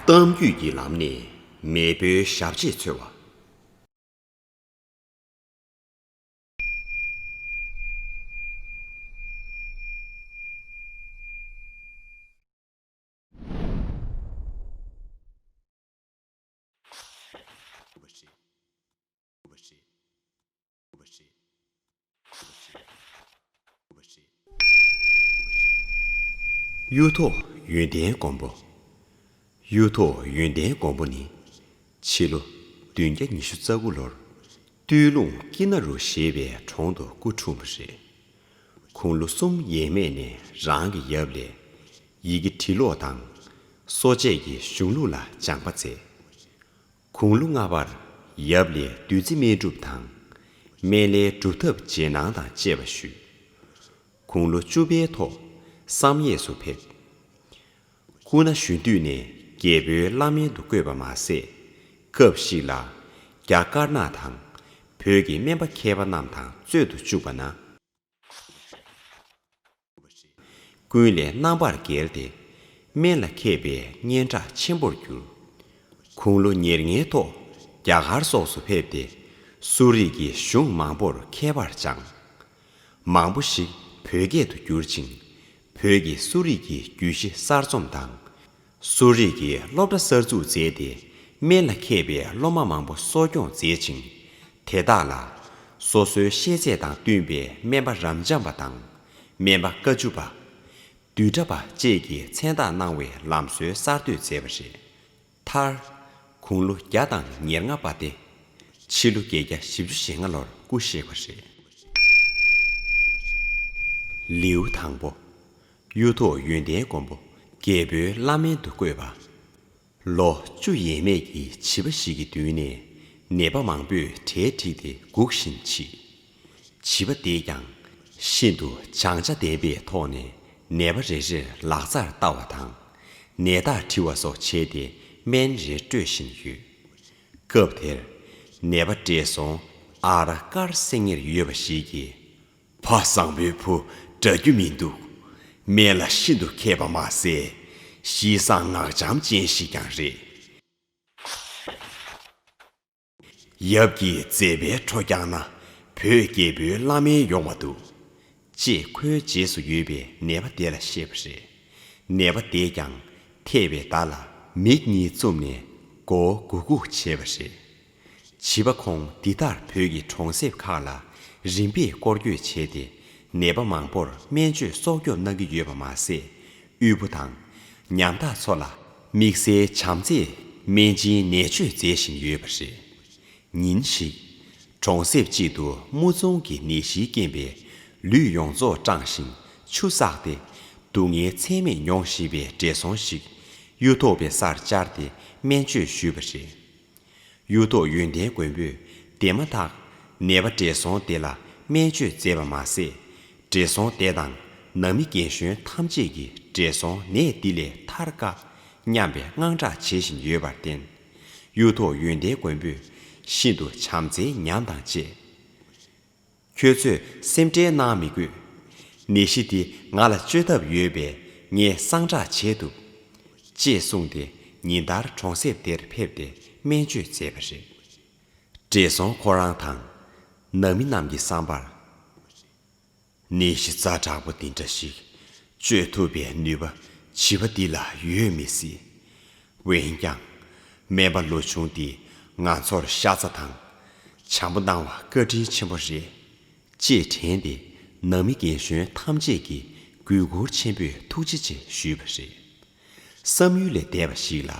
གཏམ་རྒྱུད་ཀྱི་ལམ་ནས་མེས་པོའི་ཞབས་རྗེས་འཚོལ་བ། གཡུ་ཐོག་ཡོན་ཏན་མགོན་པོ། གཡུ་ཐོག་ཡོན་ཏན་མགོན་པོ་ནི། ཕྱི་ལོ་བདུན་བརྒྱ་ཉི་ཤུ་རྩ་དགུ་ལོར་སྟོད་ལུང་སྐྱིད་ན་རུ་ཞེས་པའི་གྲོང་དུ་སྐུ་འཁྲུངས་པ་རེད། ཁོང་ལོ་གསུམ་ཡས་མས་ནས་རང་གི་ཡབ་ལས་ཡི་གེ་བྲི་ཀློག་དང། གསོ་དཔྱད་ཀྱི་གཞུང་ལུགས་ལ་སྦྱངས་པ་མཛད། གུང་ལོ་ལྔ་བར་ཡབ་ལས་བདུད་རྩི་སྨན་སྒྲུབ་དང། སྨན་བླའི་སྒྲུབ་ཐབས་རྗེས་གནང་དང་བཅས་པ་ཞུས། གུང་ལོ་བཅུ་པའི་ཐོག་བསམ་ཡས་སུ་ཕེབས། སྐུ་ན་གཞོན་དུས་ནས་རྒྱལ་པོའི་བླ་སྨན་དུ་བསྐོས་པ་མ་ཟད། སྐབས་ཤིག་ལ་རྒྱ་དཀར་ནག་དང་བོད་ཀྱི་སྨན་པ་མཁས་པ་རྣམས་དང་རྩོད་དུ་བཅུག་པ་ན། ཀུན་ལས་རྣམ་པར་རྒྱལ་ཏེ། དམན་ལ་མཁས་པའི་སྙན་གྲགས་ཆེན་པོར་གྱུར། དགུང་ལོ་ཉེར་ལྔའི་ཐོག་རྒྱ་གར་སོགས་སུ་ཕེབས་ཏེ། གསོ་རིག་གི་གཞུང་མང་པོར་མཁས་པར་སྦྱངས། མང་པོ་ཞིག་བོད་སྐད་དུ་བསྒྱུར་ཅིང། བོད་ཀྱི་གསོ་རིག་གི་རྒྱུད་བཞི་གསར་རྩོམ་དང། གསོ་རིག་གི་སློབ་གྲྭ་གསར་འཛུགས་མཛད་དེ་སྨན་ལ་མཁས་པའི་སློབ་མ་མང་པོ་གསོ་སྐྱོང་མཛད་ཅིང། དེ་དག་ལ། སོ་སོའི་ཤེས་ཚད་དང་བསྟུན་པའི་སྨན་པ་རབ་འབྱམས་པ་དང། སྨན་པ་དཀའ་བཅུ་པ། བསྡུས་གྲྭ་པ་བཅས་ཀྱི་མཚན་རྟགས་གནང་བའི་ལམ་སྲོལ་གསར་གཏོད་མཛད་པ་རེད། མཐར། དགུང་ལོ་བརྒྱ་དང་ཉེར་ལྔ་པ་སྟེ། ཕྱི་ལོ་བརྒྱད་བརྒྱ་བཞི་བཅུ་ཞེ་ལྔ་ལོར་སྐུ་གཤེགས་པ་རེད། ལེའུ་དང་པོ། གཡུ་ཐོག་ཡོན་ཏན་མགོན་པོ་རྒྱལ་པོའི་བླ་སྨན་དུ་བསྐོས་པ། ལོ་བཅུ་ཡས་མས་ཀྱི་བྱིས་པ་ཞིག་གི་མདུན་ནས་ནད་པ་མང་པོས་གྲལ་འགྲིག་སྟེ་སྒུག་བཞིན་མཆིས། བྱིས་པ་དེས་ཀྱང་ཤིན་ཏུ་བྱང་ཆ་ལྡན་པའི་ཐོག་ནས་ནད་པ་རེ་རེར་ལག་རྩར་བལྟ་བ་དང། ནད་རྟགས་དྲི་བ་སོགས་བྱས་ཏེ་སྨན་རེ་སྤྲོད་བཞིན་ཡོད། སྐབས་དེར། ནད་པ་བགྲེས་སོང་ཨ་ར་དཀར་སེང་ངེར་ཡོད་པ་ཞིག་གིས། ཕ་བཟང་བོའི་བུ་འདྲ་རྒྱུ་མི་འདུག། སྨད་ལ་ཤིན་ཏུ་མཁས་པ་མ་ཟད། གཤིས་བཟང་ངག་འཇམ་ཅན་ཞིག་ཀྱང་རེད། ཡབ་ཀྱིས་བཙས་པའི་ཁྲོ་རྐྱང་ན་བོད་རྒྱལ་པོའི་བླ་མའི་ཡོང་བ་འདུག། ཅེས་ཁོའི་རྗེས་སུ་ཡོད་པའི་ནད་པ་དེ་ལ་བཤད་པ་རེད། ནད་པ་དེས་ཀྱང་ཐེས་པའི་བརྡ་ལ་མིག་གཉིས་བཙུམ་ནས་མགོ་བོ་གུག་གུག་བྱས་པ་རེད། བྱིས་པ་ཁོང་འདི་དག་བོད་ཀྱི་གྲོང་གསེབ་ཁག་ལ་རིམ་པས་སྐོར་སྐྱོད་བྱས་ཏེ་ནད་པ་མང་པོར་སྨན་བཅོས་གསོག་འཇོག་གནང་གི་ཡོད་པ་མ་ཟད། དབུལ་པོ་དང། ཉམ་ཐག་ཚོ་ལ་དམིགས་བསལ་བྱམས་བརྩེའི་སྨན་སྦྱིན་ནད་བཅོས་མཛད་བཞིན་ཡོད་པ་རེད། ཉིན་ཞིག། གྲོང་གསེབ་ཅིག་ཏུ་དམུ་རྫོང་གི་ནད་གཞིའི་རྐྱེན་པས་ལུས་ཡོངས་རྫོགས་སྐྲངས་ཤིང་ཆུ་བསགས་ཏེ་སྡུག་བསྔལ་ཚད་མེད་མྱོང་བཞིན་པའི་བགྲེས་སོང་ཞིག་གཡུ་ཐོག་པའི་སར་བཅར་ཏེ་སྨན་བཅོས་ཞུས་པ་རེད། གཡུ་ཐོག་ཡོན་ཏན་མགོན་པོས་དེ་མ་ཐག། ནད་པ་བགྲེས་སོང་དེ་ལ་སྨན་བཅོས་མཛད་པ་མ་ཟད། བགྲེས་སོང་དེ་དང་ནང་མི་རྒན་གཞོན་ཐམས་ཅད་ཀྱིས་བགྲེས་སོང་ནད་འདི་ལས་ཐར་དཀའ། སྙམ་པའི་དངངས་སྐྲག་བྱེད་བཞིན་ཡོད་པར་བརྟེན། གཡུ་ཐོག་ཡོན་ཏན་མགོན་པོས་ཤིན་ཏུ་བྱམས་བརྩེའི་ཉམས་དང་བཅས། ཁྱོད་ཚོས་སེམས་ཁྲལ་གནང་མི་དགོས། ནད་གཞི་འདི་ང་ལ་བཅོས་ཐབས་ཡོད་པས་ངས་གསང་བསྒྲགས་བྱས་འདུག། ཅེས་གསུངས་ཏེ་ཉིན་ལྟར་གྲོང་གསེབ་དེར་ཕེབས་ཏེ་སྨན་བཅོས་མཛད་པ་རེད། བགྲེས་སོང་ཁོ་རང་དང། ནང་མི་རྣམས་ཀྱི་བསམ་པར། ནད་གཞི་རྩ་དྲག་པོ་འདི་འདྲ་ཞིག་བཅོས་ཐུབ་པའི་ནུས་པ་བྱིས་པ་འདི་ལ་ཡོད་མི་སྲིད། འོན་ཀྱང། སྨན་པ་ལོ་ཆུང་འདིས་ང་ཚོར་ཤ་ཚ་དང། བྱམས་པོ་གནང་བ་བཀའ་དྲིན་ཆེན་པོ་རེད། ཅེས་དྲན་ཏེ་ནང་མི་རྒན་གཞོན་ཐམས་ཅད་ཀྱིས་གུས་བཀུར་ཆེན་པོས་ཐུགས་རྗེ་ཆེ་ཞུས་པ་རེད། བསམ་ཡུལ་ལས་འདས་པ་ཞིག་ལ་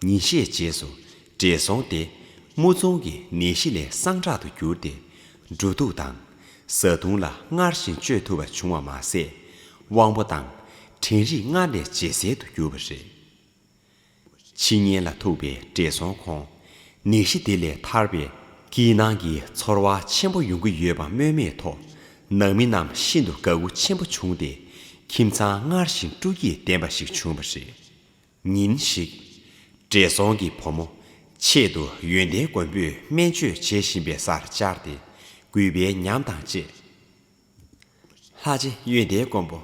ཉིན་ཤས་རྗེས་སུ་བགྲེས་སོང་སྟེ་དམུ་རྫོང་གི་ནད་གཞི་ལས་སངས་དྲག་ཏུ་གྱུར་ཏེ། འགྲོ་འདུག་དང། བཟའ་བཏུང་ལ་སྔར་བཞིན་སྤྱོད་ཐུབ་པ་བྱུང་བ་མ་ཟད། དབང་པོ་དང། དྲན་རིག་སྔར་ལས་ཇེ་གསལ་དུ་གྱུར་བ་རེད། ཕྱི་ཉིན་ལ་ཐུག་པའི་བགྲེས་སོང་ཁོང་ནད་གཞི་དེ་ལས་ཐར་པའི་སྐྱིད་སྣང་གི་ཚོར་བ་ཆེན་པོ་ཡོང་གི་ཡོད་པ་སྨོས་མེད་ཐོག་ནང་མི་རྣམས་ཤིན་ཏུ་དགའ་མགུ་ཆེན་པོ་བྱུང་སྟེ་ཁྱིམ་ཚང་སྔར་བཞིན་སྤྲོ་སྐྱིད་ལྡན་པ་ཞིག་བྱུང་བ་རེད། ཉིན་ཞིག། བགྲེས་སོང་གི་བུ་མོ་ཆེད་དུ་ཡོན་ཏན་མགོན་པོས་སྨན་བཅོས་བྱེད་བཞིན་པའི་སར་བཅར་ཏེ་གུས་པའི་ཉམས་དང་བཅས། ལྷ་རྗེ་གཡོན་བརྡལ་མགོན་པོ།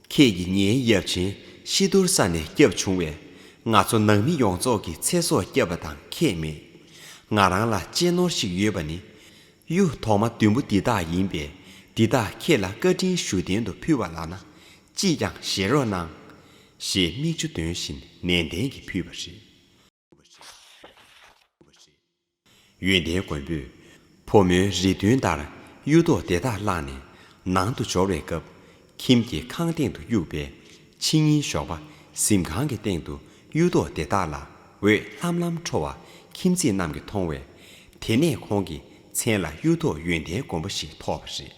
ཁྱེད་ཀྱིས་ངའི་ཡབ་ཆེན་ཤི་དུར་ས་ནས་བསྐྱབས་བྱུང་བས། ང་ཚོ་ནང་མི་ཡོངས་རྫོགས་ཀྱི་ཚེ་སྲོག་བསྐྱབས་པ་དང་ཁྱད་མེད། ང་རང་ལ་གཅེས་ནོར་ཞིག་ཡོད་པ་ནི། གཡུ་ཐོག་མ་བདུན་པོ་འདི་དག་ཡིན་པས་འདི་དག་ཁྱེད་ལ་བཀའ་དྲིན་ཞུ་རྟེན་དུ་ཕུལ་བ་ལགས་ན། ཅིས་ཀྱང་བཞེས་རོགས་གནང། ཞེས་མིག་ཆུ་འདོན་བཞིན་ནན་ཏན་གྱིས་ཕུལ་བ་རེད། ཡོན་ཏན་མགོན་པོས་ཕོ་མོའི་རིས་མཐུན་ལྟར་གཡུ་ཐོག་དེ་དག་བླངས་ནས་ནང་དུ་འབྱོར་བའི་སྐབས། ཁྱིམ་གྱི་ཁང་སྟེང་དུ་དབྱུག་པའི་ཕྱི་ཉིན་ཞོགས་པ་གཟིམ་ཁང་གི་སྟེང་དུ་གཡུ་ཐོག་དེ་དག་ལ་འོད་ལྷམ་ལྷམ་འཕྲོ་བ་ཁྱིམ་མཚེས་རྣམས་ཀྱིས་མཐོང་བས། དེ་ནས་ཁོང་གི་མཚན་ལ་གཡུ་ཐོག་ཡོན་ཏན་མགོན་པོ་ཞེས་ཐོགས་པ་རེད།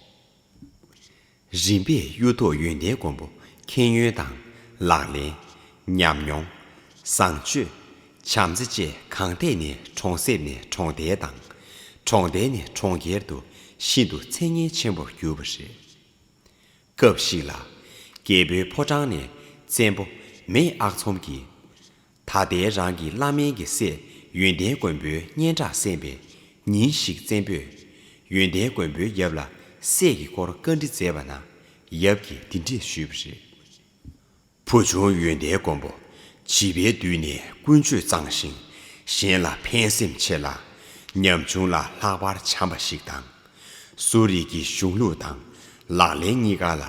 རིམ་པས་གཡུ་ཐོག་ཡོན་ཏན་མགོན་པོ་མཁྱེན་ཡོན་དང། ལག་ལེན། ཉམས་མྱོང། བཟང་སྤྱོད། བྱམས་བརྩེ་བཅས་གང་ཐད་ནས་གྲོང་གསེབ་ནས་གྲོང་རྡལ་དང། གྲོང་རྡལ་ནས་གྲོང་ཁྱེར་དུ་ཤིན་ཏུ་མཚན་སྙན་ཆེན་པོར་གྱུར་པ་རེད། སྐབས་ཤིག་ལ། རྒྱལ་པོའི་ཕོ་བྲང་ནས་བཙན་པོ་མེས་ཨག་ཚོམ་གྱིས། ད་ལྟའི་རང་གི་བླ་མེན་གྱི་སྲས་ཡོན་ཏན་མགོན་པོའི་སྙན་གྲགས་གསན་པས་ཉིན་ཞིག་བཙན་པོས་ཡོན་ཏན་མགོན་པོའི་ཡབ་ལ་སྲས་ཀྱི་སྐོར་བཀའ་འདྲི་མཛད་པ་ན་ཡབ་ཀྱིས་འདི་འདྲས་ཞུས་པ་རེད། བུ་ཆུང་ཡོན་ཏན་མགོན་པོ་བྱིས་པའི་དུས་ནས་ཀུན་སྤྱོད་གཙང་ཞིང་གཞན་ལ་ཕན་སེམས་ཆེ་ལ། ཉམ་ཆུང་ལ་ལྷག་པར་བྱམས་པ་ཞིག་དང། གསོ་རིག་གི་གཞུང་ལུགས་དང་ལག་ལེན་གཉིས་ཀ་ལ་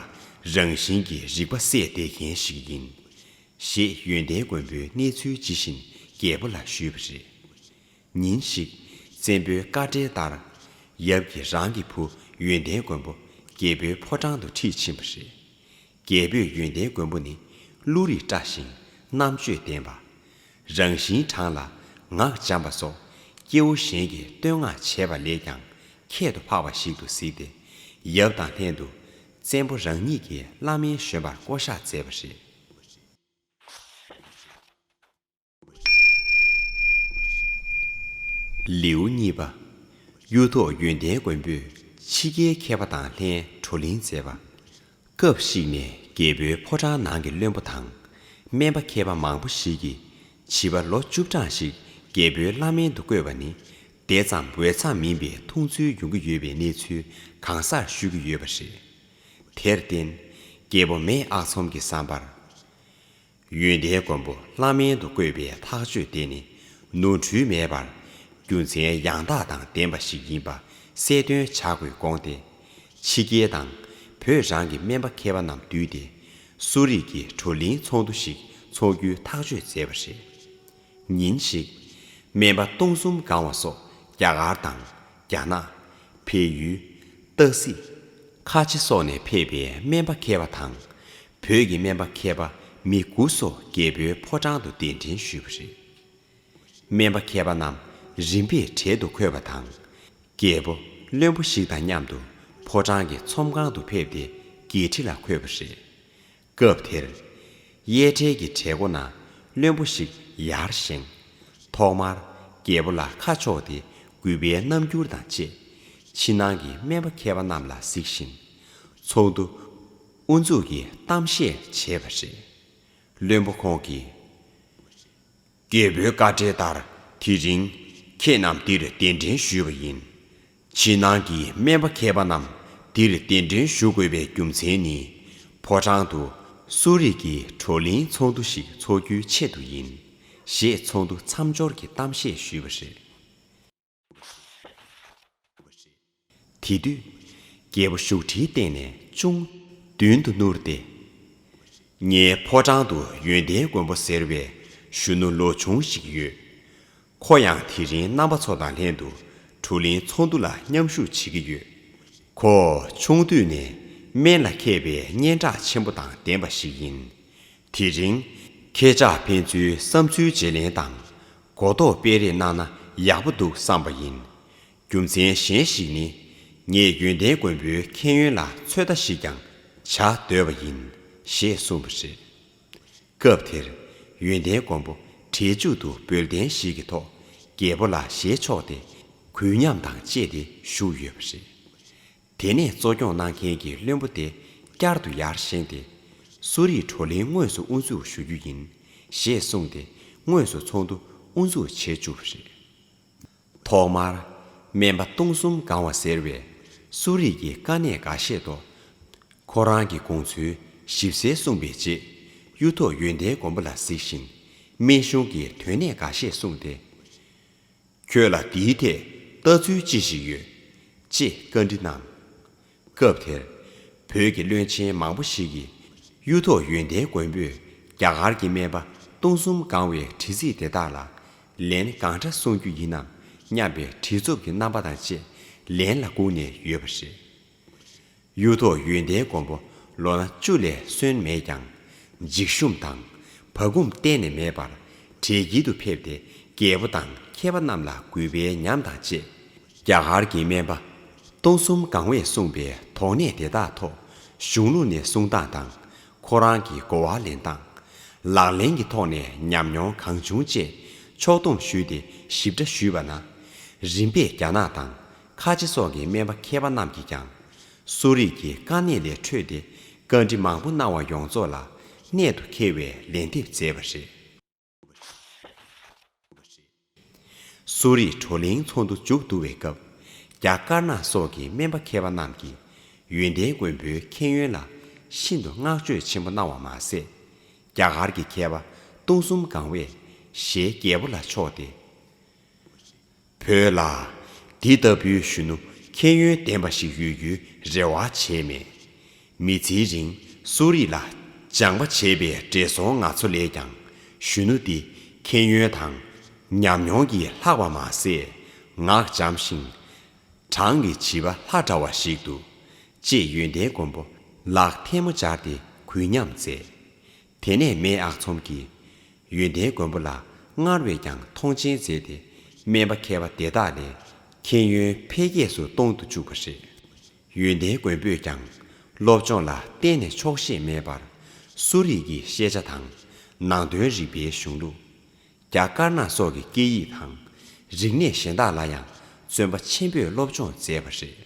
རང་བཞིན་གྱི་རིག་པ་སད་དེ་མཁན་ཞིག་ཡིན། ཞེས་ཡོན་ཏན་མགོན་པོའི་གནས་ཚུལ་ཇི་བཞིན་རྒྱལ་པོ་ལ་ཞུས་པ་རེད། ཉིན་ཞིག། བཙན་པོའི་བཀའ་འབྲེལ་ལྟར། ཡབ་ཀྱིས་རང་གི་བུ་ཡོན་ཏན་མགོན་པོ་རྒྱལ་པོའི་ཕོ་བྲང་དུ་ཁྲིད་ཕྱིན་པ་རེད། རྒྱལ་པོས་ཡོན་ཏན་མགོན་པོ་ནི་ཀླུ་རིགས་བཀྲ་ཞིང་རྣམ་དཔྱོད་ལྡན་པ། རང་བཞིན་དྲང་ལ་ངག་འཇམ་པ་སོགས་སྐྱེ་བོ་གཞན་གྱིས་བསྟོད་བསྔགས་བྱས་པ་ལས་ཀྱང་ཁྱད་དུ་འཕགས་པ་ཞིག་ཏུ་གཟིགས་ཏེ་ཡབ་དང་ལྷན་དུ་བཙན་པོ་རང་ཉིད་ཀྱི་བླ་སྨན་གཞོན་པར་བསྐོ་བཞག་མཛད་པ་རེད། ལེའུ་གཉིས་པ། གཡུ་ཐོག་ཡོན་ཏན་མགོན་པོས་ཕྱི་རྒྱལ་མཁས་པ་དང་ལྷན་བགྲོ་གླེང་མཛད་པ། སྐབས་ཤིག་ནས་རྒྱལ་པོའི་ཕོ་བྲང་ནང་གི་བློན་པོ་དང་སྨན་པ་མཁས་པ་མང་པོ་ཞིག་གིས་བྱིས་པ་ལོ་བཅུ་གྲངས་ཤིག་རྒྱལ་པོའི་བླ་སྨན་དུ་བསྐོས་པ་ནི་དེ་ཙམ་འོས་འཚམས་མིན་པའི་མཐོང་ཚུལ་ཡོང་གི་ཡོད་པའི་གནས་ཚུལ་གང་སར་ཤོད་ཀྱི་ཡོད་པ་རེད། དེར་བརྟེན། སྐྱེ་བོ་མེད་ཨག་ཚོམ་གྱི་བསམ་པར། ཡོན་ཏན་མགོན་པོ་བླ་མེད་དུ་བཀོད་པའི་ཐག་གཅོད་དེ་ནི་ནོར་འཁྲུལ་མེད་པར། རྒྱུ་མཚན་ཡང་དག་དང་ལྡན་པ་ཞིག་ཡིན་པ་གསལ་སྟོན་བྱ་དགོས་དགོངས་ཏེ། ཕྱི་རྒྱལ་དང། བོད་རང་གི་སྨན་པ་མཁས་པ་རྣམས་བསྡུས་ཏེ། གསོ་རིག་གི་བགྲོ་གླིང་ཚོགས་འདུ་ཞིག་འཚོགས་རྒྱུའི་ཐག་གཅོད་མཛད་པ་རེད། ཉིན་ཞིག། སྨན་པ་སྟོང་གསུམ་སྒང་བ་སོགས་རྒྱ་གར་དང། རྒྱ་ནག། བལ་ཡུལ། སྟག་གཟིག། ཁ་ཆེ་སོགས་ནས་ཕེབས་པའི་སྨན་པ་མཁས་པ་དང། བོད་ཀྱི་སྨན་པ་མཁས་པ་མི་དགུ་སོགས་རྒྱལ་པོའི་ཕོ་བྲང་དུ་གདན་འདྲེན་ཞུས་པ་རེད། སྨན་པ་མཁས་པ་རྣམས་རིམ་པས་གྲལ་དུ་འཁོད་པ་དང། རྒྱལ་པོ་བློན་པོ་ཞིག་དང་མཉམ་དུ་ཕོ་བྲང་གི་ཚོམས་ཁང་དུ་ཕེབས་ཏེ་འགྱེད་འཁྲི་ལ་འཁོད་པ་རེད། སྐབས་དེར། གཡས་གྲལ་གྱི་གྲལ་སྒོ་ན་བློན་པོ་ཞིག་ཡར་བཞེངས། ཐོག་མར་རྒྱལ་པོ་ལ་ཁ་ཕྱོགས་ཏེ་གུས་པའི་རྣམ་འགྱུར་དང་བཅས། ཕྱི་ནང་གི་སྨན་པ་མཁས་པ་རྣམས་ལ་གཟིགས་ཤིང། ཚོགས་འདུ་དབུ་འཛུགས་ཀྱི་གཏམ་བཤད་བྱས་པ་རེད། བློན་པོ་ཁོང་གིས། རྒྱལ་པོའི་བཀའ་འབྲེལ་ལྟར་དེ་རིང་ཁྱེད་རྣམས་འདིར་གདན་འདྲེན་ཞུས་པ་ཡིན། ཕྱི་ནང་གི་སྨན་པ་མཁས་པ་རྣམས་འདིར་གདན་འདྲེན་ཞུ་དགོས་པའི་རྒྱུ་མཚན་ནི། ཕོ་བྲང་དུ་གསོ་རིག་གི་བགྲོ་གླེང་ཚོགས་འདུ་ཞིག་འཚོགས་རྒྱུའི་ཆེད་དུ་ཡིན། ཞེས་ཚོགས་འདུ་མཚམས་སྦྱོར་གྱི་གཏམ་བཤད་ཞུས་པ་རེད། དེ་དུས། རྒྱལ་པོ་བཞུགས་ཁྲིའི་སྟེང་ནས་ཅུང། མདུན་དུ་བསྣུར་ཏེ། ངའི་ཕོ་བྲང་དུ་ཡོན་ཏན་མགོན་པོ་ཟེར་བའི་གཞོན་ནུ་ལོ་ཆུང་ཞིག་ཡོད། ཁོ་ཡང་དེ་རིང་རྣམ་པ་ཚོ་དང་ལྷན་དུ་གྲུ་གླིང་ཚོགས་འདུ་ལ་མཉམ་ཞུགས་བྱེད་ཀྱི་ཡོད། ཁོ་ཆུང་དུས་ནས་སྨན་ལ་མཁས་པའི་སྙན་གྲགས་ཆེན་པོ་དང་ལྡན་པ་ཞིག་ཡིན། དེ་རིང། ཁྱེད་ཅག་ཕན་ཚུན་བསམ་ཚུལ་བརྗེ་ལེན་དང། གོ་རྟོགས་སྤེལ་རེས་གནང་ན་ཡག་པོ་འདུག་བསམ་པ་ཡིན། རྒྱུ་མཚན་གཞན་ཞིག་ནི། ངས་ཡོན་ཏན་མགོན་པོའི་མཁྱེན་ཡོན་ལ་ཚོད་ལྟ་ཞིག་ཀྱང་བྱ་འདོད་པ་ཡིན། ཞེས་གསུངས་པ་རེད། སྐབས་དེར། ཡོན་ཏན་མགོན་པོ་གྲལ་མཇུག་ཏུ་འབུལ་རྟེན་ཞིག་གི་ཐོག་རྒྱལ་པོ་ལ་བཞེས་ཆོག་སྟེ། གུས་ཉམས་དང་བཅས་ཏེ་བཞུགས་ཡོད་པ་རེད། དེ་ནས་གཙོ་སྐྱོང་གནང་མཁན་གྱི་བློན་པོ་དེ་བསྐྱར་དུ་ཡར་བཞེངས་ཏེ། གསོ་རིག་བགྲོ་གླེང་དངོས་སུ་དབུ་འཛུགས་ཞུ་རྒྱུ་ཡིན། ཞེས་གསུངས་ཏེ་དངོས་སུ་ཚོགས་འདུ་དབུ་འཛུགས་བྱེད་བཅུག་པ་རེད། ཐོག་མར། སྨན་པ་སྟོང་གསུམ་སྒང་བ་ཟེར་བས་གསོ་རིག་གི་དཀའ་གནད་འགའ་བཤད་དོ། ཁོ་རང་གི་དགོངས་ཚུལ་ཞིབ་གསལ་གསུངས་པའི་རྗེས། གཡུ་ཐོག་ཡོན་ཏན་མགོན་པོ་ལ་གཟིགས་ཤིང། སྨན་གཞུང་གི་དོན་གནད་འགའ་ཤས་གསུངས་ཏེ། ཁྱོད་ལ་འདིའི་ཐད་ལྟ་ཚུལ་ཅི་ཞིག་ཡོད། ཅེས་བཀའ་འདྲི་གནང། སྐབས་དེར། བོད་ཀྱི་བློན་ཆེན་མང་པོ་ཞིག་གིས། གཡུ་ཐོག་ཡོན་ཏན་མགོན་པོས་རྒྱ་གར་གྱི་སྨན་པ་སྟོང་གསུམ་སྒང་བའི་དྲི་ཚིག་དེ་དག་ལ་ལན་གང་འདྲ་གསུང་རྒྱུ་ཡིན་ནམ་སྙམ་པའི་བྲེལ་འཚུབ་ཀྱི་རྣམ་པ་དང་བཅས་ལན་ལ་བསྒུགས་ནས་ཡོད་པ་རེད། གཡུ་ཐོག་ཡོན་ཏན་མགོན་པོ་ལོ་ན་བཅུ་ལས་སོན་མེད་ཀྱང། འཇིགས་ཞུམ་དང་བག་འཁུམ་གཏན་ནས་མེད་པར་གྲལ་དཀྱིལ་དུ་ཕེབས་ཏེ་རྒྱལ་པོ་དང་མཁས་པ་རྣམས་ལ་གུས་པའི་ཉམས་དང་བཅས། རྒྱ་གར་གྱི་སྨན་པ་སྟོང་གསུམ་སྒང་བས་གསུངས་པའི་དོགས་གནས་དེ་དག་ཐོག་གཞུང་ལུགས་ནས་གསུང་སྟངས་དང། ཁོ་རང་གི་གོ་བ་ལེན་སྟངས། ལག་ལེན་གྱི་ཐོག་ནས་ཉམས་མྱོང་གང་བྱུང་བཅས་ཕྱོགས་བསྡོམས་ཞུས་ཏེ་ཞིབ་ཕྲ་ཞུས་པ་ན། རིམ་པས་རྒྱ་ནག་དང་ཁ་ཆེ་སོགས་ཀྱི་སྨན་པ་མཁས་པ་རྣམས་ཀྱིས་ཀྱང། གསོ་རིག་གི་དཀའ་གནད་ལས་འཕྲོས་ཏེ་བཀའ་འདྲི་མང་པོ་གནང་བ་ཡོངས་རྫོགས་ལ་གནད་དུ་འཁེལ་བའི་ལན་འདེབས་མཛད་པ་རེད། གསོ་རིག་བགྲོ་གླེང་ཚོགས་འདུ་མཇུག་བསྡུ་བའི་སྐབས། རྒྱ་དཀར་ནག་སོགས་ཀྱི་སྨན་པ་མཁས་པ་རྣམས་ཀྱིས་ཡོན་ཏན་མགོན་པོའི་མཁྱེན་ཡོན་ལ་ཤིན་ཏུ་བསྔགས་བརྗོད་ཆེན་པོ་གནང་བ་མ་ཟད། རྒྱ་གར་གྱི་མཁས་པ་སྟོང་གསུམ་གང་བས་ཞེས་རྒྱལ་པོ་ལ་ཕྱོགས་ཏེ། བོད་ལ། འདི་ལྟ་བུའི་གཞོན་ནུ་མཁྱེན་ཡོན་ལྡན་པ་ཞིག་ཡོད་རྒྱུའི་རེ་བ་བྱས་མེད། མི་ཚེའི་རིང་གསོ་རིག་ལ་སྦྱངས་པ་བྱས་པའི་བགྲེས་སོང་ང་ཚོ་ལས་ཀྱང་གཞོན་ནུ་འདི་མཁྱེན་ཡོན་དང་ཉམས་མྱོང་གིས་ལྷག་པ་མ་ཟད་ངག་འཇམ་ཞིང། བགྲང་གི་བྱིས་པ་ལྷ་འདྲ་བ་ཞིག་འདུག། ཅེས་ཡོན་ཏན་མགོན་པོ་ལགས་ཐལ་མོ་སྦྱར་ཏེ་གུས་ཉམས་མཛད། དེ་ནས་མེས་ཨག་ཚོམ་གྱིས། ཡོན་ཏན་མགོན་པོ་ལ་སྔར་བས་ཀྱང་མཐོང་ཆེན་མཛད་དེ། སྨན་པ་མཁས་པ་དེ་དག་ལས། མཁྱེན་ཡོན་འཕེལ་རྒྱས་སུ་གཏོང་དུ་བཅུག་པ་རེད། ཡོན་ཏན་མགོན་པོས་ཀྱང། སློབ་སྦྱོང་ལ་གཏན་ནས་ཆོག་ཤེས་མེད་པར། གསོ་རིག་གི་ཤེས་བྱ་དང། ནང་དོན་རིག་པའི་གཞུང་ལུགས། རྒྱ་དཀར་ནག་སོགས་ཀྱི་སྐད་ཡིག་དང། རིག་གནས་གཞན་དག་ལ་ཡང་བརྩོན་པ་ཆེན་པོས་སློབ་སྦྱོང་མཛད་པ་རེད།